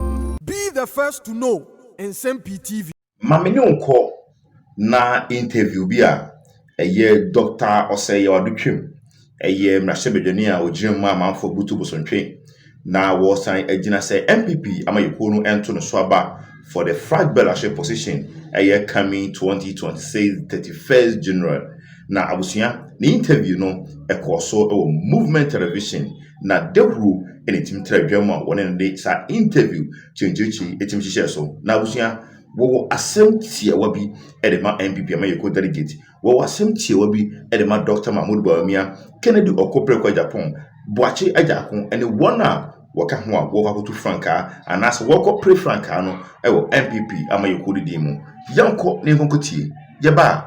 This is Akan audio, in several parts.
Be the first to know Nsɛm Pii TV. Ma me ne wo nkɔ na interview bi a ɛyɛ Doctor Osei Ado twam. Ɛyɛ mmarahyɛbadwani a ɔgyina mu a amanfoɔ butu bosontwe na wɔresan agyina sɛ NPP amayɛkuo no nto no so aba for the Frag Bɛlahyɛ position ɛyɛ coming 2026 31st General Na abusua, ne interview no ɛkɔɔ so wɔ Movement Television na dawuro na ɛtumi tra dwam a wɔne no de saa interview kyenkyerekye ɛtumi hyehyɛɛ so. Na abusua, wɔwɔ asɛm tiawa bi de ma NPP amayɛkuo delegate, wɔwɔ asɛm tiawa bi de ma Dɔkta Mahmood Bawumia, Kennedy Ɔko Preko Agyapong, Boakye Agyarko ne wɔn a wɔka ho a wɔkɔ akɔtu frankaa anaasɛ wɔkɔ pre frankaa no wɔ NPP amayɛkuo no din mu. Yɛnkɔ na yɛnkɔ nkɔtie. Yɛba a.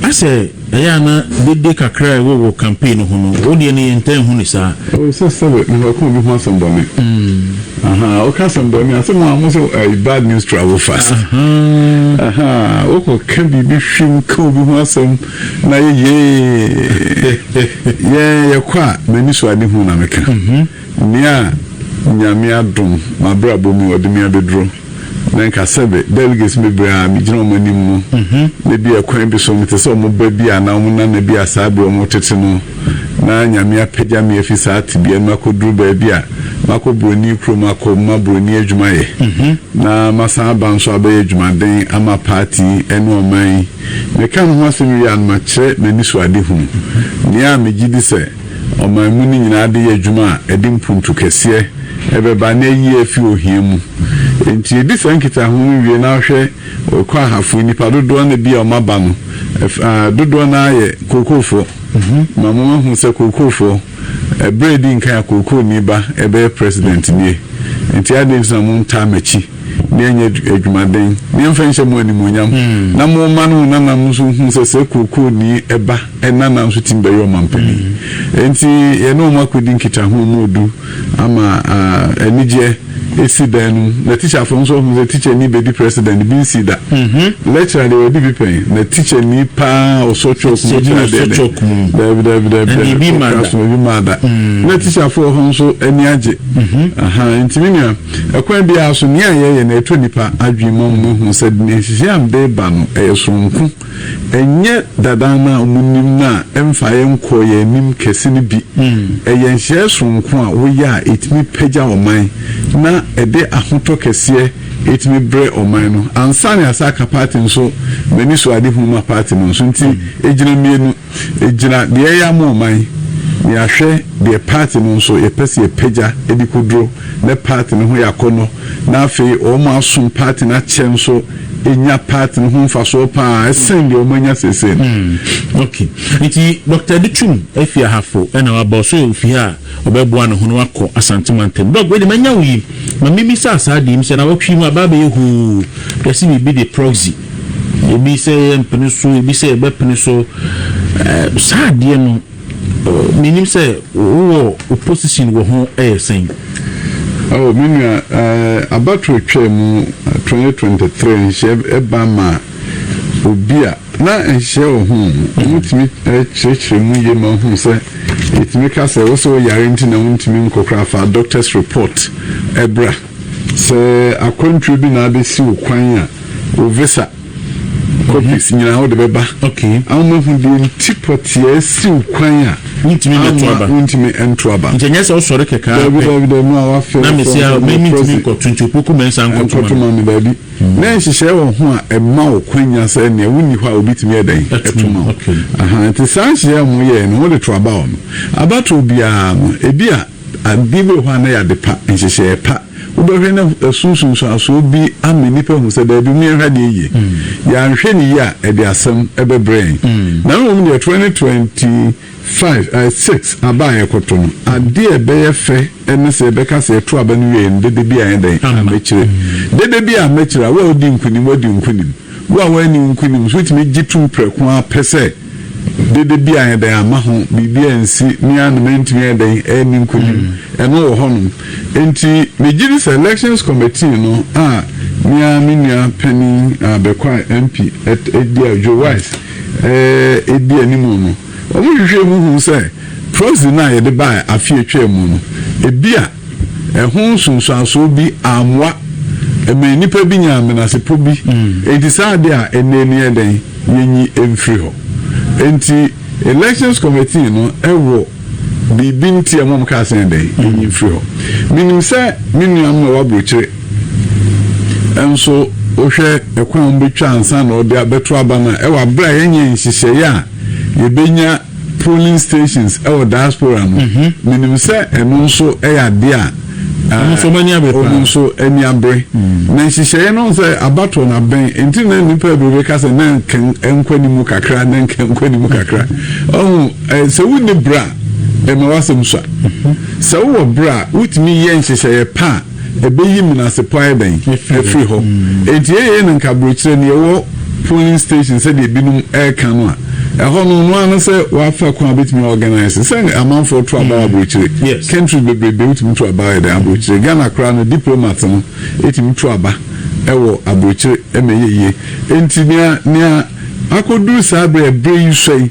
Na sɛ ɛyɛ a na dede kakra a ɛwɔ wɔ campaign no ho no, wo deɛ no yɛntaa nhu no saa. Oh, sɛ sɛbe mehwɛ ɔka obi ho asɛm bɔne. Mm. Ahaa, woka asɛm bɔne a, sɛ mo a mo sɛ uh, bad news travel fast. Ahaa. Ahaa, wokɔ ka biribi hwim ka obi ho asɛm na yɛ yee. Yɛn yɛkɔ a, m'ani so ade hu na meka. Mm-hmm. Nea Nyame adom, m'abrabɔ mu, ɔde me abɛduro. Na nka sɛbe delegates no bebree a megyina wɔn anim no, na ebi a kwan bi so mete sɛ wɔn ba bi anaa wɔn nana bi a saa bere a wɔretete no na Nyame apagya me afi saa tebea no mu akoduru baabi a makɔ buroni kurom akɔma buroni adwuma yɛ na masan aba nso abɛyɛ adwumaden ama party ne ɔman yi. Meka me ho asɛm wie a no makyerɛ m'anisoadehunu, nea a megye di sɛ. Ɔman mu no nyinaa de yɛ adwuma a ɛde mpuntu kɛseɛ ɛbɛba na ayi afi ohia mu. Enti yɛdi saa nkitaho no wie na wohwɛ Ɔkwahafoɔ nnipa dodoɔ no a bi a wɔaba no, dodoɔ no ara yɛ Kookoofoɔ. Ma mo mahu sɛ Kookoofoɔ, berɛ a ɛdi nkan a Kookooni ba ɛbɛyɛ President nie. Enti adɛn nti na mo ntaa m'akyi na yɛnyɛ adwumaden na yɛmfa nhyɛ mo animuonyam na mo mma ne mo nananom nso nhu sɛ sɛ Kookooni ba, Ɛnana nso tumi bɛyɛ ɔmanpanin. Enti yɛne wɔn akɔdi nkitaho ma wɔadu ama anigyeɛ asi dan no mu. Na tikyafoɔ nso ahunu sɛ tikyani bɛdi president no, bi nsii da. Lecturer deɛ wadi bi pɛn. Na tikyani pa ara a ɔsɔ chalk mu lecturer deɛ dɛ, daabi, daabi, daabi, daabi, ɔkra so, ebi mmaa da. Na tikyafoɔ wɔ hɔ nso ani agye. Ahaa, enti me nua, ɛkwan biara so, nea yɛyɛ no, ɛtɔ nnipa adwene ma wɔhunu sɛ nhyehyɛeɛ a mede reba no, ɛyɛ sononko. Ɛnyɛ dada anaa munim no a ɛmfa yɛn nkɔɔ yɛn anim kɛse no bi. Ɛyɛ nhyehyɛe soronko a woyɛ a etumi pagya ɔman na ɛde ahotɔ kɛseɛ etumi brɛ ɔman no. Ansane Asaka party nso m'ani sɔ Ade Hunu Ma party no nso nti egyina mmienu. Egyina deɛ ɛyɛ ama ɔman, ne ahwɛ deɛ party no nso yɛpɛ sɛ yɛpagya de kɔduro nɛ party no ho yɛ akɔnnɔ na afei wɔn a asom party no akyɛ nso nya party no ho mfasoɔ pa ara sɛn deɛ wɔn anya seesei no. Hmm, ok. Nti Doctor de twum afi Ahafo ɛna waba ɔsɛ ɔyɛ ofi ha a ɔbɛboa ne ho na wakɔ Asante mantam. Doc wei de manya wo yi, ma me bisa saa deɛ yi, mesɛ nawɔtwe yi mu abaa bɛyɛ hoo, yɛse biribi de proxy. Ebi sɛ yɛmpene so, ebi sɛ yɛbɛpene so. Ɛɛ, saa adeɛ no, menim sɛ wowɔ wo position wɔ ho ɛyɛ sɛn? Oh, me nua, uh, abatoɔ atwaa mu 2023 nhyehyɛɛ ɛba ma obi a na nhyehyɛɛ wɔ ho no, wɔn tumi kyerɛkyerɛ mu yie ma ɔhunu sɛ yɛtumi ka sɛ wosɛ woyare nti na wontumi nkɔ koraa fa doctor's report ɛbra. Sɛ akwantuo bi na abɛsi wo kwan a, wo visa copies nyinaa wode bɛba. Ama mahu deɛ nti pɔteɛ si wo kwan a ama wontumi nto aba. Nti ɛnyɛ sɛ wosɔre kɛkɛ ara pɛ. Daabi daabi na wafɛ na mesi a mentumi nkɔto nti opoku mɛnsa nkɔto ma me daabi. Na nhyehyɛe wɔ ho a ɛma wo kwanya sɛ nea wonni hɔ a obi tumi yɛ dɛn ɛto ma wo. Nti saa nhyehyɛe a wɔyɛe no wode to aba hɔ no, abatoɔ biara no ebi a Ade bi wɔ hɔ a na ɛyɛ ade pa, nhyehyɛe pa. Wobɛhwɛ na ɛso nsunsuansoɔ bi ama nnipa ahu sɛ, Dabi, momyɛ nhwɛ adeɛ yie. Yɛanhwɛ no yie a, ɛde asɛm bɛbrɛ yɛn. Na mmom deɛ, 2025, six, aba a yɛrekɔto no, adeɛ a ɛbɛyɛ fɛ ne sɛ yɛbɛka sɛ, Yɛto aba no wieeɛ no, dede bi ayɛ dɛn? Ammakyire. Dede bi ammakyire a, wo a wodi nkonim, woadi wo nkonim. Wo a woanni wo nkonim nso, wotumi gye tom prɛko ara pɛ sɛ, Dede bi ayɛ dɛn amma ho biribi ansi me ara na mantumi ayɛ dɛn anni nkonim. Ɛno wɔ hɔnom. Enti megye di sɛ Elections Committee no a me ara me nua panin a Bekwai MP di a Joe Wise di anim no, wɔhwehwɛɛ mu huu sɛ proxy no a yɛde bae afe a etwaam no, ebia Ɛho nsunsuanso bi ammoa ma nnipa bi nyaa menasepɔ bi. Enti saa ade a ɛnnɛ ani yɛ dɛn? Yenyi mfiri hɔ. Enti Elections Committee no wɔ biribi nti a wɔkaa sɛ yɛn dɛn? Yenyi mfiri hɔ. Minim sɛ me nuanom a ɛwɔ aburokyire nso wohwɛ kwan a wɔbɛtwa ansa na wɔde abɛto aba no a, ɛwɔ abere a yɛnyɛɛ nhyehyɛeɛ a yɛbɛnya polling stations wɔ diaspora no menim sɛ ɛno nso yɛ adeɛ a wɔn nso wɔn ani abere paa wɔn nso ani abere na nhyehyɛeɛ no sɛ abatoɔ no abɛn nti na nipa bebree ka sɛ na nkɔ anim kakra na nkɔ anim kakra ɔho sɛ wonni bra ɛma wasɛm sua sɛ wowɔ bra wotumi yɛ nhyehyɛeɛ paa Ebeyi menasepɔ ayɛ dɛn afiri hɔ? Enti eei no nka aburokyire no yɛwɔ polling station sɛdeɛ ebinom reka no a, ɛhɔ no ɔno ara no sɛ wafa kwan a obetumi a organise sɛ amanfoɔ to aba wɔ aburokyire. Countries bebrebe wotumi to aba yɛ dɛn aburokyire. Ghana koraa no diplomats no tumi to aba wɔ aburokyire ma ɛyɛ yie. Enti nea nea akɔduru saa bere a ɛbere yi sua yi,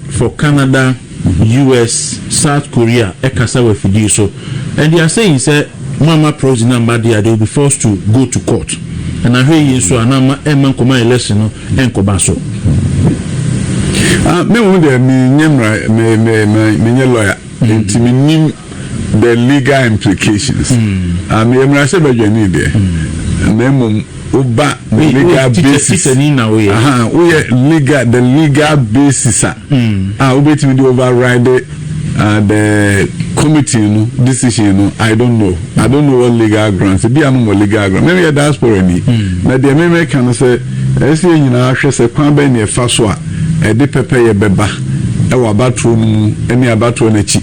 for Canada, US, South Korea kasa wɔ afidie so and they are saying sɛ moamma proxy no amma de a they will be forced to go to court and ahwɛ yie nso a na ama ɛmma nkɔma election no nkɔba so. Ah, me ho deɛ me nyɛ mmara, me, me, me, me nyɛ lawyer. Nti menim the legal implications ah meyɛ mmarahyɛ badwani deɛ na mmom woba the legal basis aha woyɛ legal the legal basis a a wobɛtumi de override ah, the committee no decision no I don't know I don't know what legal grounds ebi a no wɔ legal grounds meme yɛ diaspora ni na deɛ meme ka no sɛ ɛsɛ yɛ nyinaa hwɛ sɛ kwan bɛn na ɛfa so a ɛde pɛpɛyɛ bɛba wɔ abatoɔ no mu ne abatoɔ no akyi.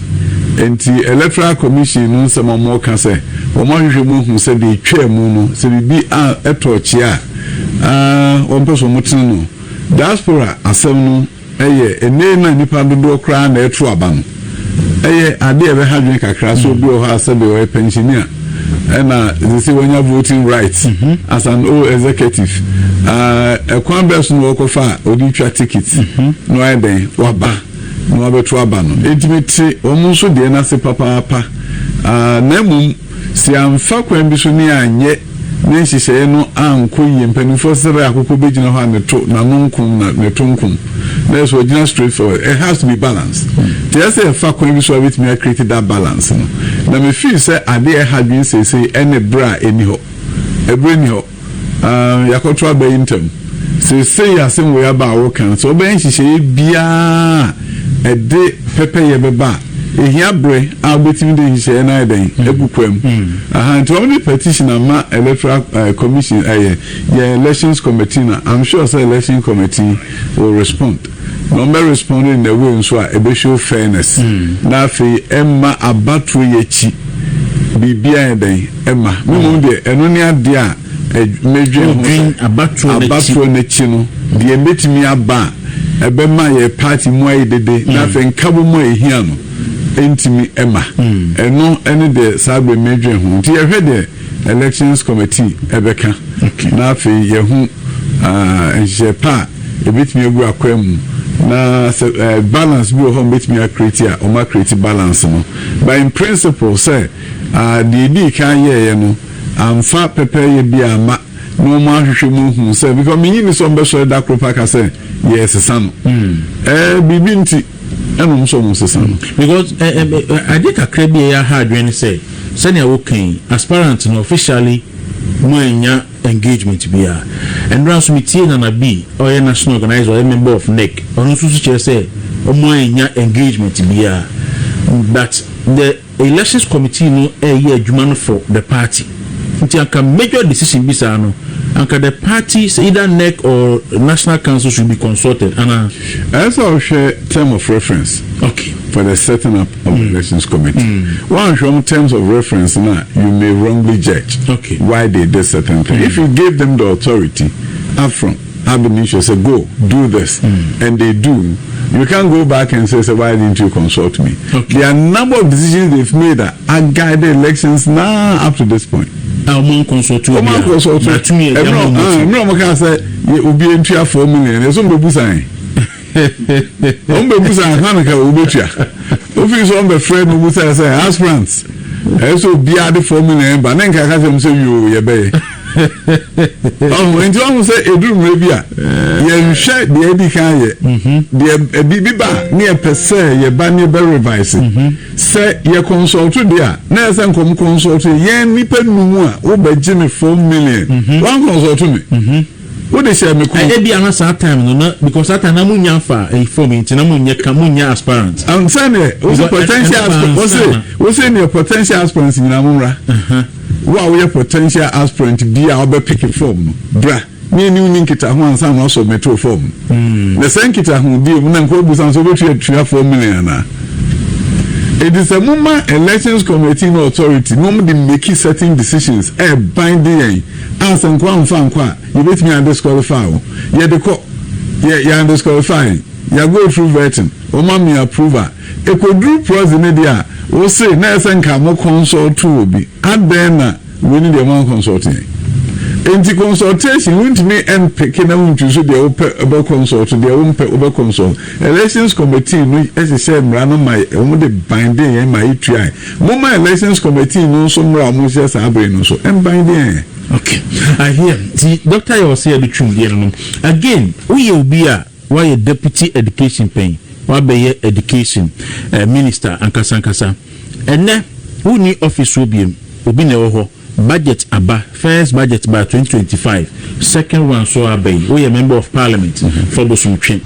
Enti Electoral Commission no nsɛm a wɔreka sɛ wɔahwehwɛ mu ahu sɛ deɛ ɛtwaa mu no sɛ biribi a tɔɔ kyea a wɔmpɛ sɛ wɔtene no, Diaspora asɛm no yɛ ɛnnee no a nnipa dodoɔ koraa na ɛreto aba no. Ɛyɛ ade a ɛbɛha adwene kakra sɛ obi wɔ hɔ a sɛbe ɔyɛ pɛnhyenni a ɛna ɛsɛ sɛ wanya voting right mhm. as an old executive. Ah, ɛkwan bɛɛ so na wɔkɔfa a ɔde twa ticket mhm. na wayɛ dɛn waba na wabɛto aba no. Ɛntumi te wɔn nso deɛ no ase papaapa. Ah, na mmom Sɛ amfa kwan bi so ne anyɛ ne nhyehyɛe no ankɔ yie, mpanyimfoɔ srɛ akokɔ bɛgyina hɔ a ne to, n'ano nkom na ne to nkom. That is ɔgyina straight forward. It has to be balance. Nti ɛyɛ sɛ yɛfa kwan bi so a yɛbɛtumi a create that balance no. Na me feel sɛ adeɛ a ɛha adwene seesei ɛne berɛ a ɛni hɔ. Ɛberɛ nni hɔ. Yɛakɔto aba yi ntɛm. Seesei asɛnwoi aba a wɔreka no, sɛ wɔbɛyɛ nhyehyɛeɛ biara a ɛde pɛpɛyɛ bɛba a, ɛhia berɛ a wobɛtumi de nhyehyɛeɛ no ayɛ dɛn? Agu kwaam. Aha, nti wɔde petition ama Electoral Commission, ɛyɛ yɛn Elections Committee na I'm sure sɛ Elections Committee will respond. Na ɔmmɛ respond in a way nso a ɛbɛ show fairness na afei ɛmma abatoɔ yi akyi biribi ayɛ dɛn ɛmma me mmom deɛ ɛno ne adeɛ a mɛdwen ho sɛ abatoɔ no akyi no deɛ ɛbɛtumi aba a ɛbɛma yɛ party mu ayɛ dede na mm. afei nkabom a ɛhia no ɛntumi ɛma mm. ɛno ɛne deɛ saa bɛ mɛdwen ho nti yɛhwɛ deɛ Elections Committee bɛka, na afei yɛahu nhyehyɛe pa a ebetumi agu akwan mu, na sɛ balance bi wɔ hɔ a wɔbɛtumi akreeti a, wɔakreeti balance no. But in principle sɛ deɛ edii kan yɛeɛ no amfa pɛpɛɛyɛ biara amma. na wɔn ahwehwɛ mu ahu sɛ because menyi ni sɛ wɔn bɛsɔre da koro pa ka sɛ yɛresesa no hmm. ɛɛ biribi nti ɛna wɔn sɛ wɔn sesa no. because ɛ eh, ɛ eh, eh, ade kakra bi a yɛaha adwene ne sɛ sɛnea wɔka yi aspirant no officially mo anya engagement biara ɛnora nso metie nana bi ɔyɛ national organizer ɔyɛ member of nec ɔno nso so kyerɛ sɛ wɔn anya engagement biara but the Elections committee no ɛyɛ adwuma no for the party nti anka major decision bi saa no anka the party sɛ either NEC or national council should be consulted anaa? Ɛyɛ sɛ ɔhwɛ term of reference Okay. for the setting up of elections committee. Woanhwɛ wɔn terms of reference no a you may wrongly judge Okay. why they did certain things. If you gave them the authority up front. have been issued sɛ go do this and they do you can't go back and say sɛ why didn't you consult me okay. there are number of decisions they've made that are guided elections now up to this point. a wɔn ankɔnsɔto obi a wɔn ankɔnsɔto ɛmɛ ɔmo kan sɛ obi ntua four million ɛsɛ ɔmo bɛ bu san. wɔn bɛ busa ansa na ka wɔn bɛ tua ofi so wɔn bɛ frɛ na wɔn busa sɛ aspirant ɛyɛ sɛ obiara de fɔm na yɛn ba ne nka kasa mu sɛ wio yɛ bɛyɛ ɔhun nti wɔn sɛ eduru mmerɛ bi a yɛn hwɛ deɛ edi kan yɛ deɛ ebi bi ba ne yɛ pɛ sɛ yɛ ba ne bɛ revise sɛ yɛ consult deɛ a na yɛ sɛ nkɔm consult yɛn nipa num a wɔbɛ gye ne four million wɔn consult ne. Wo de hyɛ me kɔn. Ebia na saa time no na because that time na mo nya fa eh, form yi nti na mo nyɛ ka mo nyɛ aspirant. Um, sɛ neɛ wo sɛ potential aspirant wo sɛ wo sɛ neɛ potential aspirants nyinaa mo mmra. Wo a woyɛ potential aspirant bi a wobɛ pick form no bra ne ɛni wo ni nkitaho ansa na wasubmit wo form no. Na sɛ nkitaho die mu na nka wobusa nso wobɛtumi atua 4 million anaa. Enti sɛ moma elections committee no authority na wɔn de make certain decisions ɛɛban de yɛn a sɛ nkoa mfa ankɔ a yɛbɛtumi a disqualify wo yɛde kɔ yɛ yɛ undisqualify yɛn yɛ go through vetting wɔn ama yɛ approve a ɛkɔduru proxy no deɛ a wo se na ɛsɛ nka mo consult obi adɛn na wei no deɛ mo anconsult yɛn enti consultation wontumi mpeke na wontwi so deɛ wopɛ bɛ consult deɛ wompɛ wobɛ consult elections committee no hyehyɛ mmara no ma wɔn de binding yɛn ma yɛtuae Momma elections committee no nso mmra mo nhyɛ saa bere no so mban deɛ ɛɛ. Okay I hear nti doctor yɛ ɔsɛ yɛde twem deɛ no no again woyɛ obi a woayɛ deputy education pɛn woabɛyɛ education eh, minister ankasa ankasa ɛnɛ wonni office hɔ biem obi na ɛwɔ hɔ. Budget aba, first budget baa twenty twenty five, second one so aba yi, woyɛ member of parliament fa bosom twe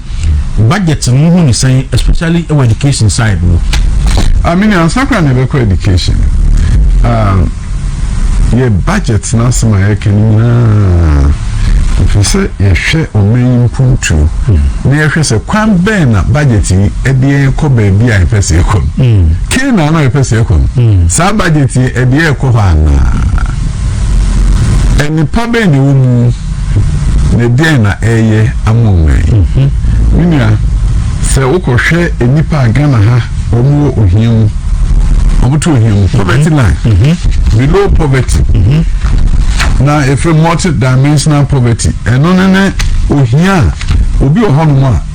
budget no wohu ne sɛn especially wɔ education side no. Ah mini ansa kora na ɛbɛkɔ education ah yɛ budget no asɛm a yɛka no nyinaa ɛfɛ sɛ yɛhwɛ ɔman yi mpuntuo na yɛhwɛ sɛ kwan bɛn na budget yi ɛde yɛn kɔ baabi a yɛpɛ sɛ yɛkɔ no. Canaan na yɛpɛ sɛ yɛkɔ no, saa budget yi ɛde yɛ kɔ hɔ anaa? Nnipa bɛn na ɛwɔ mu na ɛdeɛn na ɛyɛ ama ɔman yi? Mhm. Me nua, sɛ wokɔhwɛ nnipa a Ghana ha wɔn wɔ ohia mu, wɔn to ohia mu, mhm. poverty line, mhm. below poverty, na efe multi dimensional poverty, ɛno ne ne ohia a obi wɔ hɔnom a.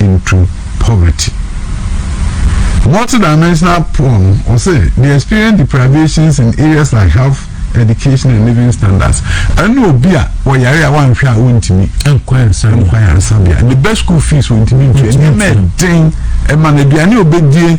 into poverty. Multidimensional poor no, ɔsɛ they experience deprivations in areas like health, education and living standards. Ɛne obi a ɔyare a wanhwɛ a ɔntumi nkɔ ayaresabea. Ne bɛ school fees ɔntumi ntua. Nneɛma ɛden ɛma no aduane ɔbɛdie.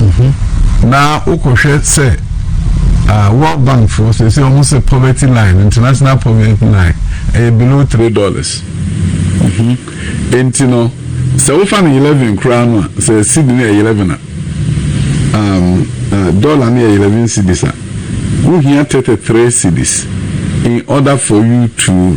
Mm-hmm. na wokɔhwɛ sɛ uh, world bank foɔ sɛ sɛ ɔmo sɛ poverty line international poverty line ɛyɛ eh, below three dollars mm-hmm. nti no sɛ wofa no eleven koraa no a sɛ seed no yɛ eleven a um, uh, dollar no yɛ eleven cedis a wohia thirty three cedis in order for you to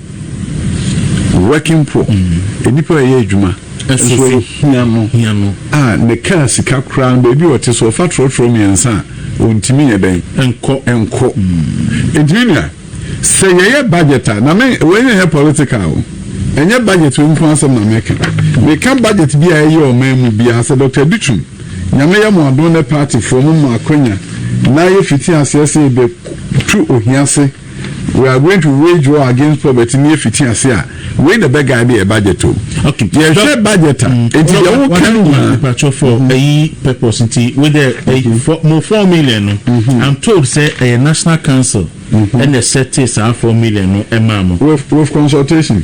Working poor, nnipa a ɛyɛ adwuma nso ahia no a ne kaa sika koraa no baabi a ɔte so ɔfa trɔtrɔ mmiɛnsa a ɔntumi nyɛ dɛn nkɔ. Nti me nua sɛ yɛyɛ budget a, na me wei no nyɛ political o, ɛnyɛ budget wei nko asɛm na meka, meka budget bi a ɛyɛ ɔman mu biara sɛ Doctor Dutum Nyame yɛ mo adom ne party foɔ mo ma akwanya na yɛ fiti aseɛ sɛ yɛbɛ tu ohia se, We are going to wage war against poverty ne efiti ase a wei na ɛbɛ guide yɛ budget o yɛhwɛ budget a nti deɛ wo ka no nyinaa. mpatsɔ for ɛyi purpose nti wei dɛ ɛyi for mo four million no i'm told sɛ ɛyɛ national council ɛna ɛsɛte saa four million no ɛmaa mo. with with consultation.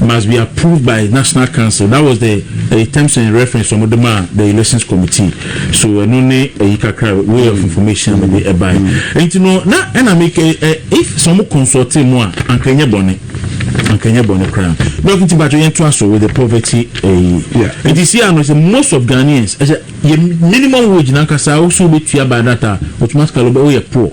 must be approved by National Council that was the ɛyi terms and reference wɔn de maa the elections committee so ɛno ne ɛyi kakra way of information a mede ɛbae nti no na ɛna mi kɛ ɛ if sɛ wɔn consult mu a anka nyɛ bɔne anka nyɛ bɔne koraa dɔk nti bàtò yɛn to aso with the poverty ɛyi nti si ano sɛ most of Ghanaians ɛsɛ yɛ minimum wage nankasa wosow bɛ tua by that a automatically wobɛ woyɛ poor.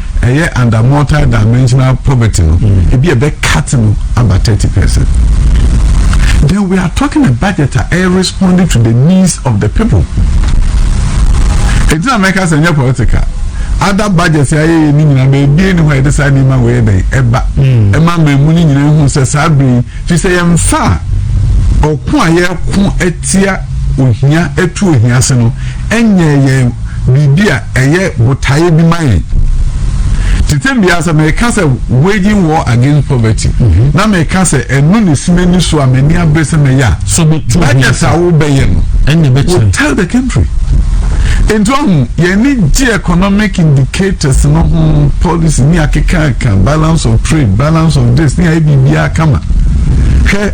ɛyɛ under multi-dimensional poverty no mm. ebi ɛbɛ cut no aba thirty percent then we are talking a budget a ɛyɛ responding to the needs of the people ɛgyina mɛka sɛ ɛnyɛ political ada budget ayɛ yɛ ne nyinaa beebie ne hɔ a yɛde saa nneɛma wɔ yɛ dɛn ɛba mm. ɛma mmamu ne nyinaa ehu sɛ saa bere yi fi sɛ yɛn fa ɔko a yɛko atia ohia atu ohia ase no ɛnyɛ yɛn. biribi a ɛyɛ botaeɛ bi ma yɛn. Tete bia sɛ meka sɛ waging war against poverty mhm. na meka sɛ ɛno na ɛsi m'ani so a m'ani abere sɛ mɛyɛ a so budget a wobɛyɛ no ɛnyɛ bɛkyerɛ will tell the country nti ɔho yɛne gye economic indicators no ho policy ne akekaaka balance of trade balance of this ne ayɛ biribiaa kama hwɛ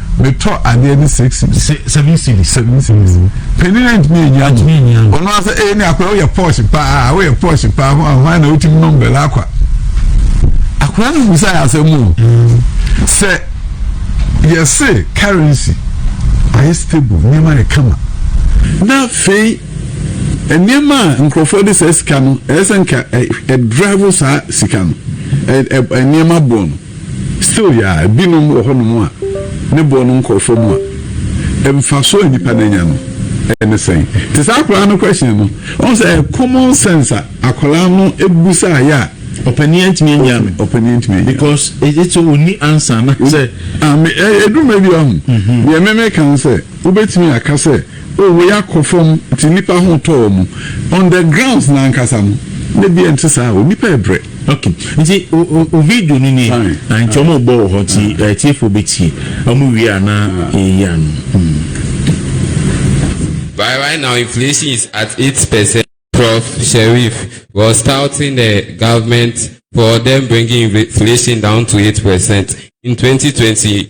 metɔ adeɛ ne six cities. se seven cities. seven cities. panin na ntumi enyi ano. ntumi enyi ano. ɔno asɛ ee ne akora woyɛ pɔɔsi paa woyɛ pɔɔsi paa ho ahoa na wotumi nom bɛlɛ akwa akora no bisa yɛ asɛm o sɛ yɛse currency ayɛ stable nneɛma yɛ kama na afei nneɛma a nkurɔfoɔ de saa sika no ɛyɛ sɛ nka ɛdrive saa sika no nneɛma boɔ no Still ya a, binom wɔ hɔnom a ne boɔ no nkɔ fam a, mfasoɔ a nipa no anya no ne sɛn? Te sɛ akwadaa no question no, ɔhu sɛ ɛyɛ common sense a akwadaa no busaeɛ a. Ɔpanin antumi annya me. Ɔpanin antumi annya me. Because ɛgye sɛ ɔnni answer anaasɛ. Ɛduru mmerɛ bi a, ɔhu, deɛ me meka no sɛ, wobɛtumi aka sɛ. Oh wei akɔ fam nti nnipa ho tɔ wɔn on the grounds no ankasa no na bia nte saa o nnipa ɛbrɛ. Ok nti wo video no nie a nti ɔmo bɔ wɔ hɔ nti atiefoɔ bɛtie ɔmo wie a na yɛyi ano. By right now inflation is at eight percent prof Sherif was touting the government for them bringing inflation down to eight percent in twenty twenty